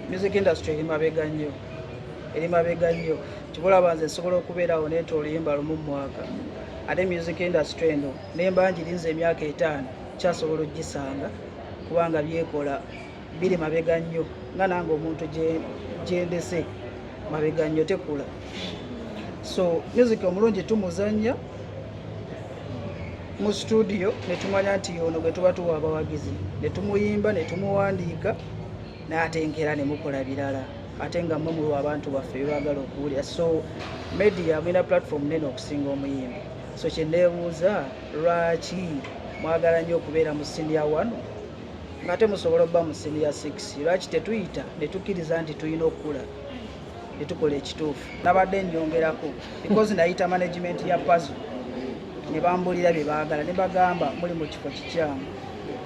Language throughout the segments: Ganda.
music industry eri mabega nnyo eri mabega nnyo kibulaba nze nsobola okubeerawo neeta oluyimba lumu mumwaka ate music industry eno nemba ngirinza emyaka etaano kyasobola okugisanga kubanga byekola biri mabega nnyo nga nange omuntu gyendese mabega nnyo tekula so music omulungi tumuzannya mu situdiyo ne tumanya nti ono gwe tuba tuwa abawagizi ne tumuyimba ne tumuwandiika n'atenkera ne mukola birala ate nga mwe mulwa abantu baffe bebaagala okuwulira so media mulina platform nene okusinga omuyimbi so kye neebuuza lwaki mwagala nnyo okubeera mu siniya one ng'ate musobola okuba mu siniya six lwaki tetuyita ne tukkiriza nti tulina okukula netukola ekituufu nabadde nyongerako because nayita management ya pazo ne bambulira bye baagala ne bagamba muli mu kifo kikyamu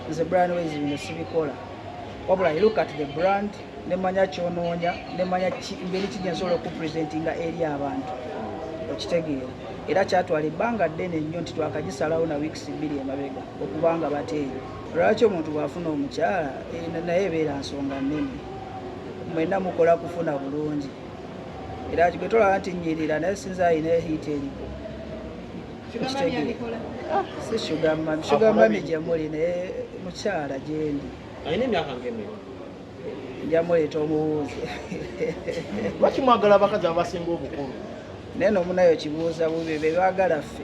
nze brand wezi bino sibikola wabula i look at the brand ne manya kyonoonya ne manya ngeri kigye nsobola okupresentinga eri abantu okitegeera era kyatwala ebbanga ddene nnyo nti twakagisalawo na weeks bbiri emabega okubanga bateeyo lwaki omuntu bwafuna omukyala eh, naye ebeera nsonga nnene mwena mukola kufuna bulungi era gwe tolaba nti nyirira naye sinza alina ehiita eriko ah, si sugamami sugamami gyemuli naye mukyala gyendi njamuleeta omubuuzi lwaki mwagala abakazi abasinga obukulu naye nomunayo kibuuza bubi bebagala ffe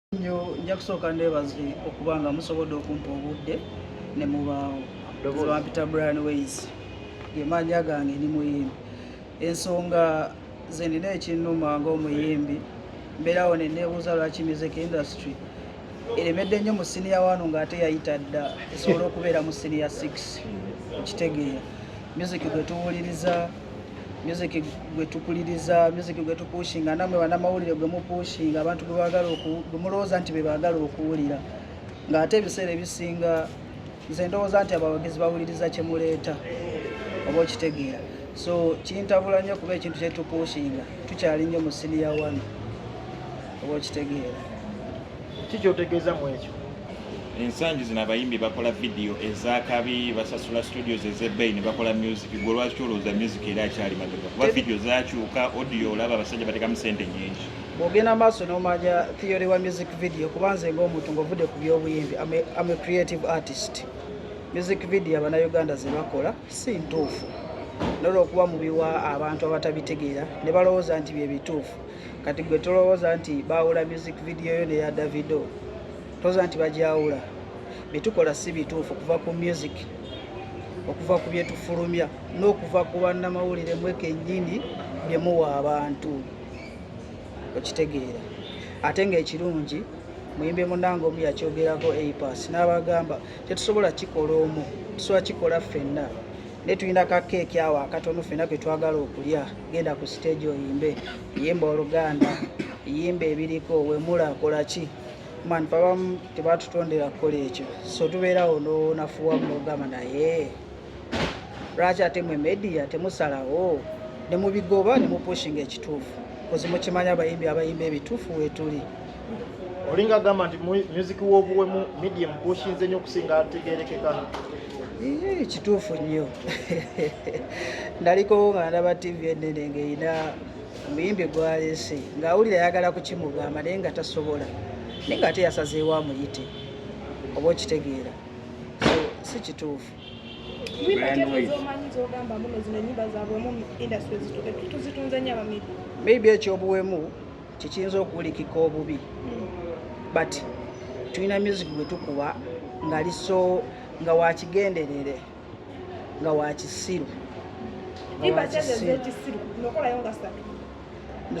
nyo nja kusooka ndebaze okuba nga musobodde okumpa obudde ne mubaawo bampita brian ways gemaanya gange ndi muyimbi ensonga ze nina ekinnuma ngaomuyimbi mbeerawo ne neebuuza lwaki music industry eremedde nnyo mu siniya wano ng'ate yayita dda esobola okubeera mu siniya 6 okitegeera music gwe tuwuliriza music gwe tupuliriza music gwe tupushinga namwe banamawulire gwe mupushinga abantu gwe bagala gwe mulowooza nti be bagala okuwulira ng'ate ebiseera ebisinga nze ndowooza nti abawagizi bawuliriza kye muleeta oba okitegeera so kintabula nnyo kuba ekintu kye tupushinga tukyali nnyo mu siniya wano oba okitegeera Ki kyotegeeza mu ekyo? Ensangi zino abayimbi bakola vidiyo ez'akabi, basasula studios ez'ebbeeyi ne bakola music. Gwe lwaki olowooza music era akyali mabega? Kuba vidiyo zakyuka, audio olaba abasajja batekamu sente nyingi. Bw'ogenda maaso n'omanya theory wa music video kuba nze ng'omuntu ng'ovudde ku by'obuyimbi am a creative artist. Music video abanauganda ze bakola si ntuufu. nolwokuba mubiwa abantu abatabitegeera ne balowooza nti bye bituufu kati gwe tolowooza nti baawula music video yo neya davido tolowooza nti bagyawula byetukola si bituufu okuva ku music okuva ku byetufulumya n'okuva ku bannamawulire mwe kennyini byemuwa abantu okitegeera ate ng'ekirungi muyimbi munange omu yakyogerako apas n'abagamba tetusobola kikola omu tusobola kikola ffenna ne tulina ka keeki awo akatono fena ke twagala okulya genda ku siteegi oyimbe yimba oluganda yimba ebiriko wemula akola ki man babamu tebatutondera kukola ekyo so tubeerawo nonafuwa mugamba naye lwaki ate mwe media temusalawo nemubigoba nemupushinga ekituufu kozimukimanya abayimbi abayimba ebituufu wetuli olinga agamba nti music w'obuwemu medium gwoshinze nnyo okusinga ategerekeka kituufu nnyo ndaliko nga ndaba tv enene ngaerina omuyimbi gwalese ng'awulira ayagala kukimugamba naye nga tasobola naye nga ate yasazeewo amuyite oba okitegeera so si kituufu maybe ekyobuwemu kikiyinza okuwulikika obubi but tulina music gwe tukuba ngali so nga wakigenderere nga wakisiru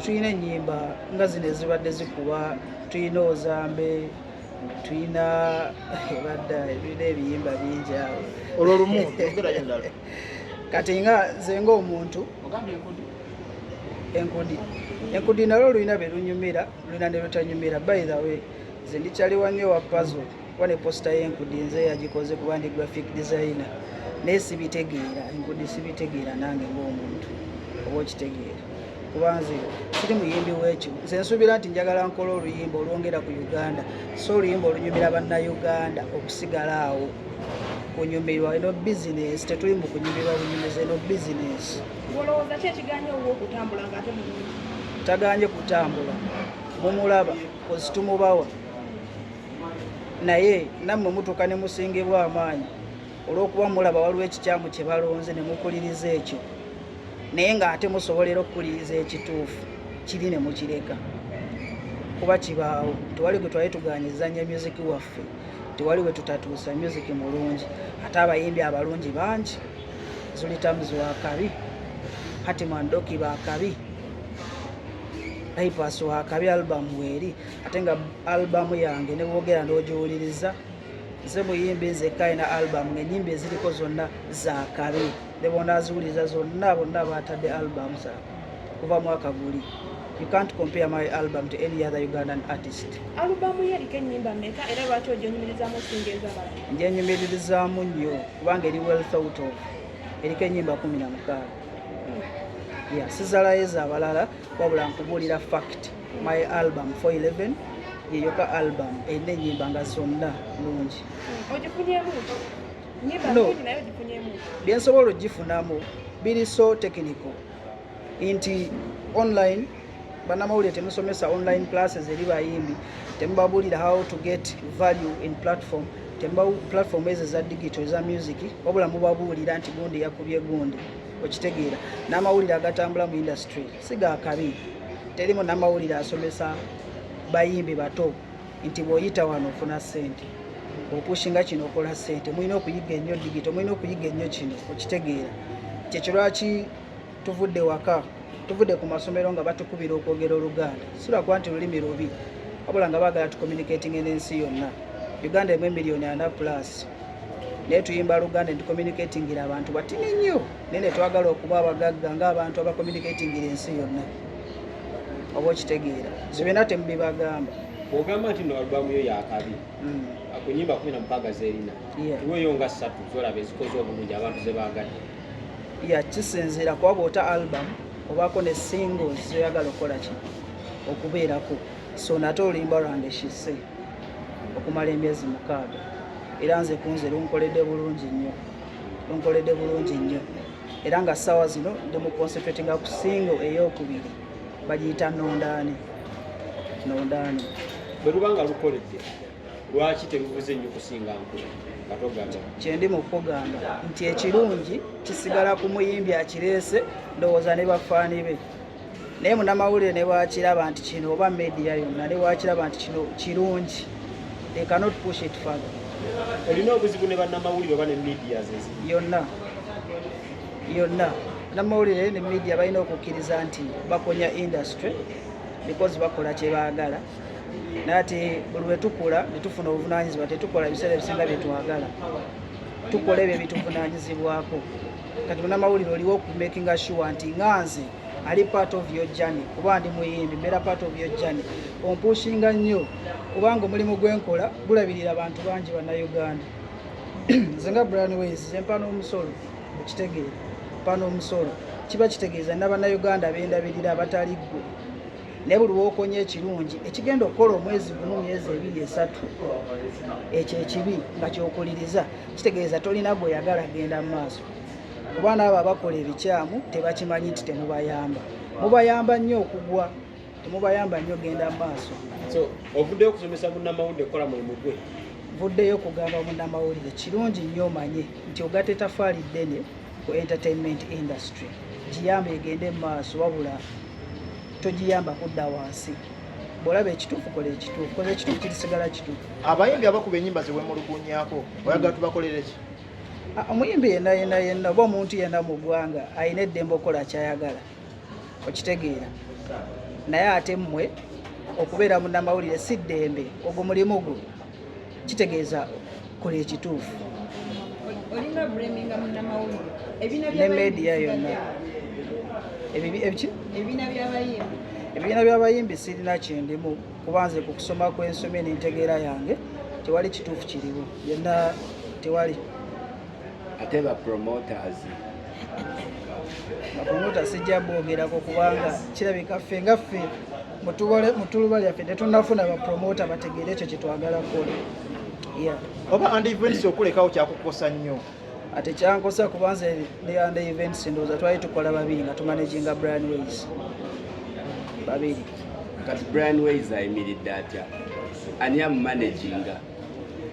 tulina enyimba nga zino ezibadde zikuba tulina ozambe tulina ebadda ebina ebiyimba bingi awo olwo lumu kati nga nze ngaomuntu enkudi enkudi nalwo olulina belunyumira lulina nelutanyumira by the way nze ndikyaliwa nnyo wa pazo kuba ne posita yenkudi nze yagikoze kuba ndi graphic designer naye sibitegeera enkudi sibitegeera nange ngaomuntu oba okitegeera kuba nze siri muyimbi wekyo nze nsuubira nti njagala nkola oluyimba olwongera ku uganda so oluyimba olunyumira bannauganda okusigala awo kunyumirwa eno bizinesi tetuli mu kunyumirwa bunyumizi eno bizinesi tagaanye kutambula mumulaba kozi tumubawa naye nammwe mutuuka ne musingibwa amaanyi olw'okuba mulaba waliwo ekikyamu kye balonze ne mukuliriza ekyo naye ng'ate musobolera okukuliriza ekituufu kiri ne mukireka kuba kibaawo tewali gwe twali tugaanyizanya myuziki waffe tewali we tutatuusa myuziki mulungi ate abayimbi abalungi bangi zulitamuzi wakabi hatimandoki bakabi bypass wakabi albamu weeri ate nga albamu yange ne bwogera n'ogiwuliriza nze muyimbi nzekka ina album ngenyimba eziriko zonna zakabi nebonaziwuliriza zonna bonna batadde album za kuva mwaka guli you can't compare my album to any other ugandan artist njenyumiririzaamu nnyo kubanga eri well thought of eriko enyimba kumi na mukaaga hmm. ya sizalayo ezabalala wabula nkubuulira fact my album 411 yeyoka album erina enyimba nga zonna nungi no byensobola ogifunamu biri so technical nti online banamawulire temusomesa online classes eri bayimbi temubabulira how to get value in platform temba platform ezo eza digital eza music wabula mubabuulira nti gundi yakubye gundi okitegeera n'amawulire agatambula mu industry si ga kabi teri munamawulire asomesa bayimbi bato nti bw'oyita wano ofuna ssente opushinga kino okola ssente mulina okuyiga ennyo digito mulina okuyiga ennyo kino okitegeera kyekyo lwaki tuvudde waka tuvudde ku masomero nga batukubira okwogera oluganda sirakuba nti lulimi lubi wabula nga baagala tucommunicatinge n'ensi yonna uganda emu emiliyoni ana plus naye tuyimba luganda netucommunicatingira abantu batini nnyo naye netwagala okuba abagagga ngaabantu abacommunicatingira ensi yonna oba okitegeera zo byonna temubibagamba ogamba nti no albamu yo yakabi hmm. akunyimba kumi na mukaaga zerina iweyo nga ssatu zolaba ezikoze obulungi abantu zebagadde ya kisinziira kuba bwota album obaako ne singles zoyagala okukola ki okubeerako so nate olimba rwanda eshise okumala emyezi mukaaga era nze kunze lunkoledde bulungi nnyo lunkoledde bulungi nnyo era nga ssaawa zino ndi mu concentratinga ku singo ey'okubiri bagiyita nondaani nondaani bwe luba nga lukoledde lwaki terubuze nnyo kusinga nkula kyendi mu kukugamba nti ekirungi kisigala ku muyimbi akireese ndowooza ne bafaani be naye munamawulire ne bwakiraba nti kino oba media yonna ne bwakiraba nti kino kirungi they cannot push it further olina obuzibu ne bannamawulire oba ne media zezi yonna yonna namawulire ne media balina okukkiriza nti bakonya industry because bakola kyebaagala naye ati buli lwetukula netufuna obuvunanyizibwa tetukola ebiseera ebisinga byetwagala tukola ebyo ebituvunanyizibwako kati munamawulire oliwo okumakinga sure nti nga nze ali part of your journey kuba ndi muyimbi mbeera part of your journey ompushinga nnyo kubanga omulimu gwenkola gulabirira abantu bangi bannauganda nze nga brian ways zempa n'omusolo okitegeera mpa n'omusolo kiba kitegeeza nabannauganda bendabirira abatali ggwe naye buli wokonya ekirungi ekigenda okukola omwezi gumu myezi ebiri esatu ekyo ekibi nga kyokuliriza kitegeeza tolina gweyagala genda mu maaso kuba naabo abakola ebikyamu tebakimanyi nti temubayamba mubayamba nnyo okugwa temubayamba nnyo genda mu maaso ovuddeyo okusomesa munamawulire okukola mulimu gwe vuddeyo okugamba munamawulire kirungi nnyo omanye nti ogata etafaali ddene ku entertainment industry giyamba egende mu maaso wabula togiyamba kudda wansi bwolaba ekituufu kola ekituufu kola ekituufu kirisigala kituufu abayimbi abakuba enyimba zewemulugunyako oyagala tubakolere ki ah, omuyimbi yenna yenna yenna oba omuntu yenna mu ggwanga alina eddembe okukola kyayagala okitegeera naye ate mmwe okubeera munamawulire si ddembe ogwo mulimu gwo kitegeeza kola ekituufu ne media yonna ebibiina byabayimbi sirina kindimu kuba nze ku kusoma kwensomye n'entegeera yange tewali kituufu kiriwo byonna tewali ate ba promoters bapromota sijja bwogerako kubanga kirabika ffe nga ffe mutubole mutuluba lyaffe tetunafuna bapromota bategeere ekyo kyetwagala kukola oba and events okulekawo kyakukosa nnyo ate kyankosa kuba nze ne and events ndowooza twali tukola babiri nga tumanaginga brian ways babiri kati brian ways ayimiridde atya ani amumanaginga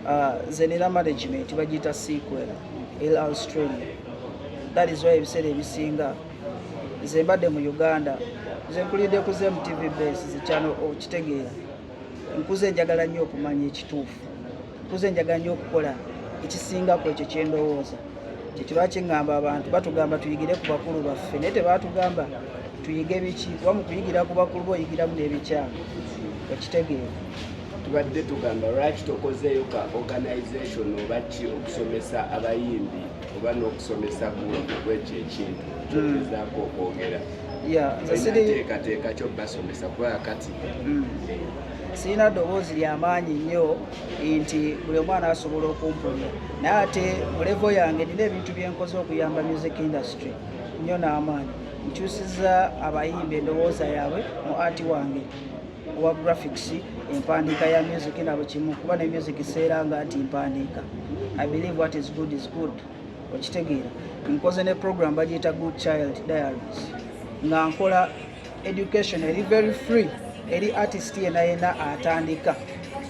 ah, nze nina management bagiyita sequel l australia that is why ebiseera ebisinga nze mbadde mu uganda nze nkulidde ku zemu tv base zikyano okitegeera oh, nkuze njagala nnyo okumanya ekituufu nkuze njagala nnyo okukola ekisingako ekyo kyendowooza kyekirwa kiŋŋamba abantu batugamba tuyigire ku bakulu baffe naye tebatugamba tuyige biki kuba mu kuyigira ku bakulu boyigiramu n'ebikyamu okitegeera tubadde tugamba lwaki tokozeeyo ka organization oba ki okusomesa abayimbi oba n'okusomesa kwekyo ekintu kyogezaako okwogera teekateeka kyo basomesa kubanga kati hmm. sirina ddoboozi lyamaanyi nnyo nti buli omwana asobola okumpulira naye ate mulevo yange nina ebintu byenkoze okuyamba music industry nnyo n'amaanyi nkyusiza abayimba endowooza yaabwe mu ati wange owa graphics empandiika ya music nabo kimu kuba ne music seera nga nti mpandiika i believe what is good is good okitegeera nkoze ne program bagiyita good child diaries nga nkola education eri very free eri artist yena yena atandika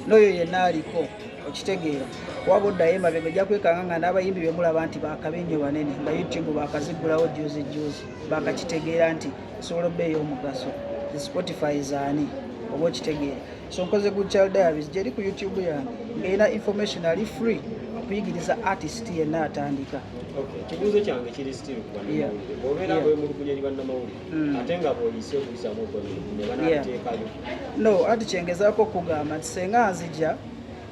noyo yena aliko okitegeera waba oddayo emabega ojja kwekanga nga n'abayimbi bemulaba nti bakabi nnyo banene nga youtube bakazigulawo juzi juzi bakakitegeera nti esobola obba ey'omugaso the spotify zaani oba okitegeera so nkoze good child diaries gyeri ku youtube yange ng'erina information ali free okuyigiriza artist yenna atandika ekibuuzo kyange kiri still kubanamawulire bwobeera bwemulugunya eri bannamawulire mm. ate nga bwoyise okubisamu okwemulugunya banateekayo no ati kyengezaako okugamba nti senga nzija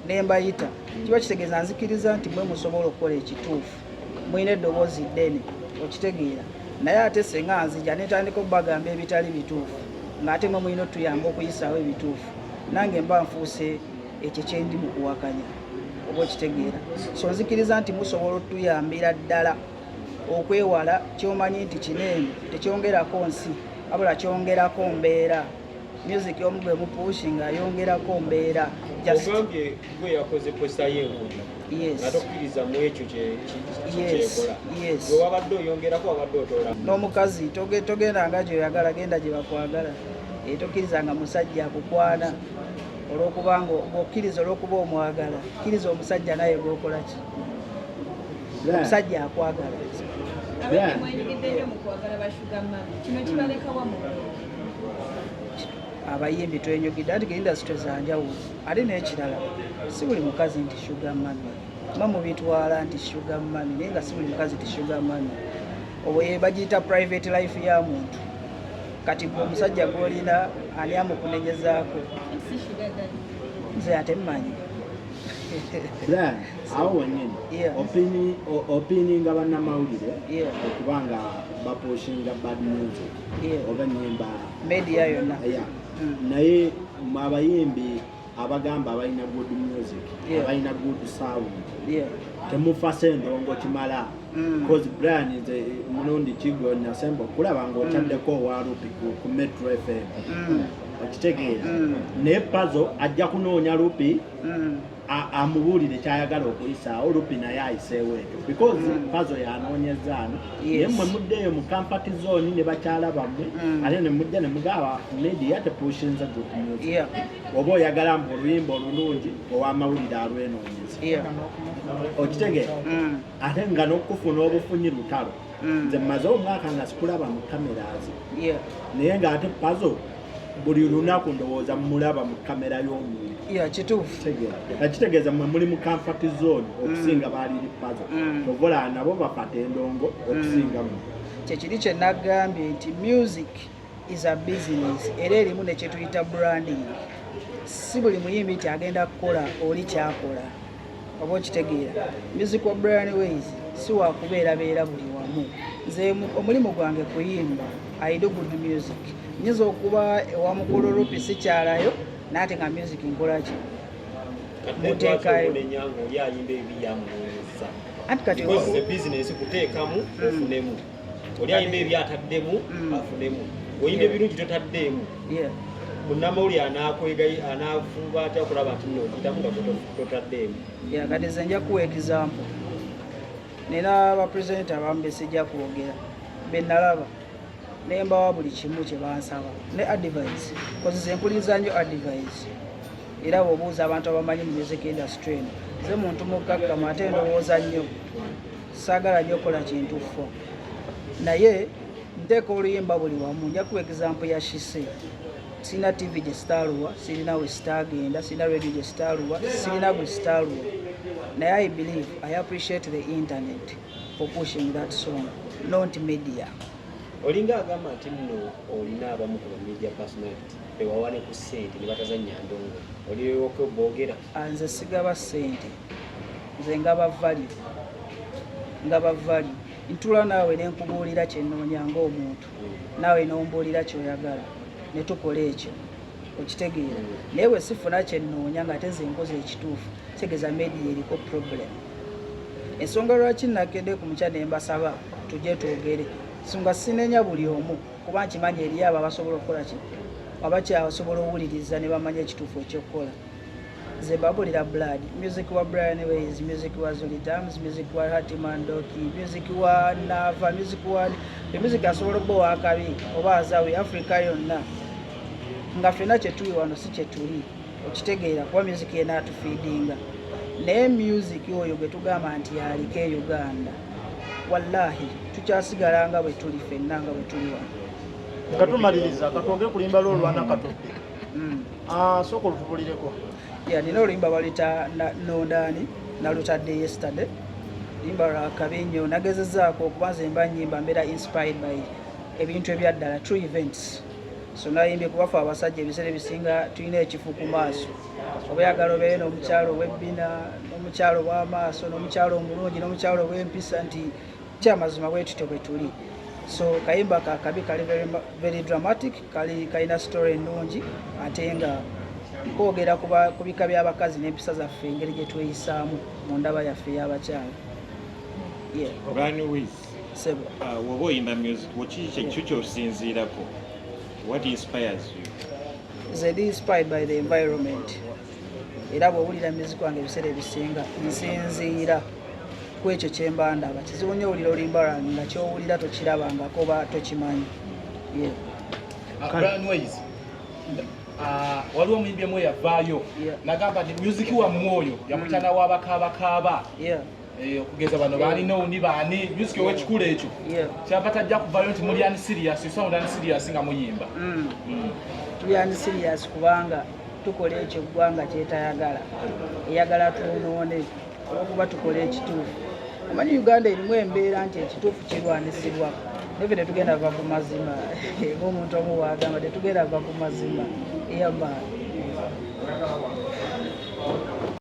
ne mbayita kiba kitegeeza nzikiriza nti mwe musobola okukola ekituufu mulina eddoboozi ddene okitegeera naye ate senga nzija netandika okubagamba ebitali bituufu ng'ate mwe mulina otuyamba okuyisaawo ebituufu nange mba nfuuse ekyo kyendi mu kuwakanya oba okitegeera so nzikiriza nti musobola otuyambira ddala okwewala kyomanyi nti kineeno tekyongerako nsi abula kyongerako mbeera music omu gwe mupushi nga ayongerako mbeera ogambye gwe yakoze posta ye enkulu atokkiriza mu ekyo kyekola gwe wabadde oyongerako wabadde otola n'omukazi togenda nga gyoyagala genda gye bakwagala eh, tokkiriza nga musajja akukwana olwokuba nga okkiriza olwokuba omwagala kkiriza omusajja naye gwokola ki omusajja akwagala abayimbi twenyogedde ati ge industry zanjawulo ate n'ekirala si buli mukazi nti shuga mami ma mubitwala nti shuga mami naye nga si buli mukazi nti shuga mami obwo bagiyita private life ya muntu kati gwe omusajja gwolina ani amukunenyezaako nze ate mmanyi then awo wenyini opininga bannamawulire okuba nga bapushinga bad music oba nyimba media yonna hmm. naye mwabayimbi abagamba abalina good music abalina good sound temufasa endongo kimala hmm. bcause brian nze eh, mulundi kigo nasemba okulaba nga hmm. otaddeko owalupi ku metro fm okitegeera naye pazo ajja kunoonya lupi amubuulire kyayagala okuyisaawo lupi naye ayiseewo ekyo because mm. pazo yanoonyeza ano naye mwe muddeeyo mu kampati zooni ne bakyala bammwe mm. ate ne mujja ne mugaba media tepushinze good music oba oyagala mbu oluyimba olulungi ow'amawulire alwenoonyeza okitegeera mm. ate nga n'okufuna obufunyi lutalo nze mmaze omwaka nga sikulaba mu kameraazi naye ng'ate pazo buli lunaku ndowooza mulaba mu kamera y'omuntu kitegeeza mwe muli mu comfort zone mm. okusinga baaliri pazo mm. ovola nabo bapata endongo mm. okusinga mu kyekiri kye nagambye nti music is a business era erimu nekyetuyita branding si buli muyimbi nti agenda kukola oli kyakola oba okitegeera music wa brian ways si wakubeerabeera buli wamu nze omulimu gwange kuyimba aido good music nyinza okuba ewamukulu rupi sikyalayo naate nga music nkolaki muteekayo anti kati oli alina ebyataddemu mm. afunemu oyina ebirungi totaddeemu munnamawulire anakwegayi anafuba atya okulaba nti nokitamu nga totaddeemu yakati ze nja kuwa ekisampo nera abapresidenti abamu besijja kwogera benalaba naye mbawa buli kimu kyebansaba ne advise kozi zempuliriza nyo advise era bwobuuza abantu abamanyi mu music industry eno ze muntu mukkakkama ate ndowooza nnyo saagala nyo kola kintu fo naye nteeka oluyimba buli wamu nja kuwa egizampu ya shise sirina tv gye sitaaluwa sirina we sitaagenda sirina radio gye sitaaluwa sirina gwe sitaaluwa naye i believe i appreciate the internet for pushing that song not media olinga agamba nti nno olina abamu ku bamedia personality bewawane ku sente ne batazannya ndongo oliowoka oboogera Ah, nze sigaba sente nze ngaba value ngaba value ntula naawe nenkubuulira kyenoonya ngaomuntu naawe nombuulira kyoyagala netukola ekyo okitegeera naye we sifuna kyenoonya nga ate zenkoza ekituufu kitegeeza media eriko problem ensonga lwaki nakedde ku mukya nembasaba tujje twogere songa sinenya buli omu kuba nkimanyi eriyo abo abasobola okukola ki abakyasobola owuliriza nebamanya ekituufu ekyokukola zebabulira blood music wa brian ways music wa zulitams music wa hatimandoki music wa nava music wa emusic asobola okuba owakabi oba azawe africa yonna nga fena kyetuli wano si kyetuli okitegeera kuba music yena atufiidinga naye music oyo gwetugamba nti aliko e uganda wallahi tukyasigala nga bwetuli fenna nga bwetuli wano nga tumaliriza katwogere kulimba lwo olwana katudde mm. ah, sooka olutubulireko nina oluyimba baluyita nondaani nalutadde yesterday luyimba lwa kabi nnyo nagezezaako okuba nze mba nyimba mbeera inspired by ebintu ebyaddala true events so nayimbye kubafe abasajja ebiseera ebisinga tulina ekifu ku maaso oba yagala obeere n'omukyalo owebbina n'omukyalo ow'amaaso n'omukyalo omulungi n'omukyalo ow'empisa nti kyamazima bwetutyo bwe tuli so kayimba kakabi kali very dramatic kali kalina story ennungi ate nga kwogera ku bika by'abakazi n'empisa zaffe engeri gye tweyisaamu mu ndaba yaffe y'abakyala uh, woba oyimba music kiki kyosinziirako what inspires you zedi inspired by the environment era bw'owulira music wange ebiseera ebisinga nsinziira ku ekyo kye mba ndaba kizibu nnyo owulira olimba lwange nga ky'owulira tokirabangako oba tokimanyi ah, waliwo omuyimbi emu eyavaayo nagamba nti music wammwe oyo yamutana wabakaabakaaba Eh, okugeza bano baalina owundi baani music owekikula ekyo kyava tajja kuvayo nti muli ani serious sound ani serious nga muyimba mm. Mm. tuli ani serious kubanga tukola ekyo eggwanga kyetayagala eyagala twonoone olwokuba tukola ekituufu omanyi uganda erimu embeera nti ekituufu kirwanisibwa neve tetugenda va ku mazima ngaomuntu omu wagamba tetugenda va ku mazima eyamaani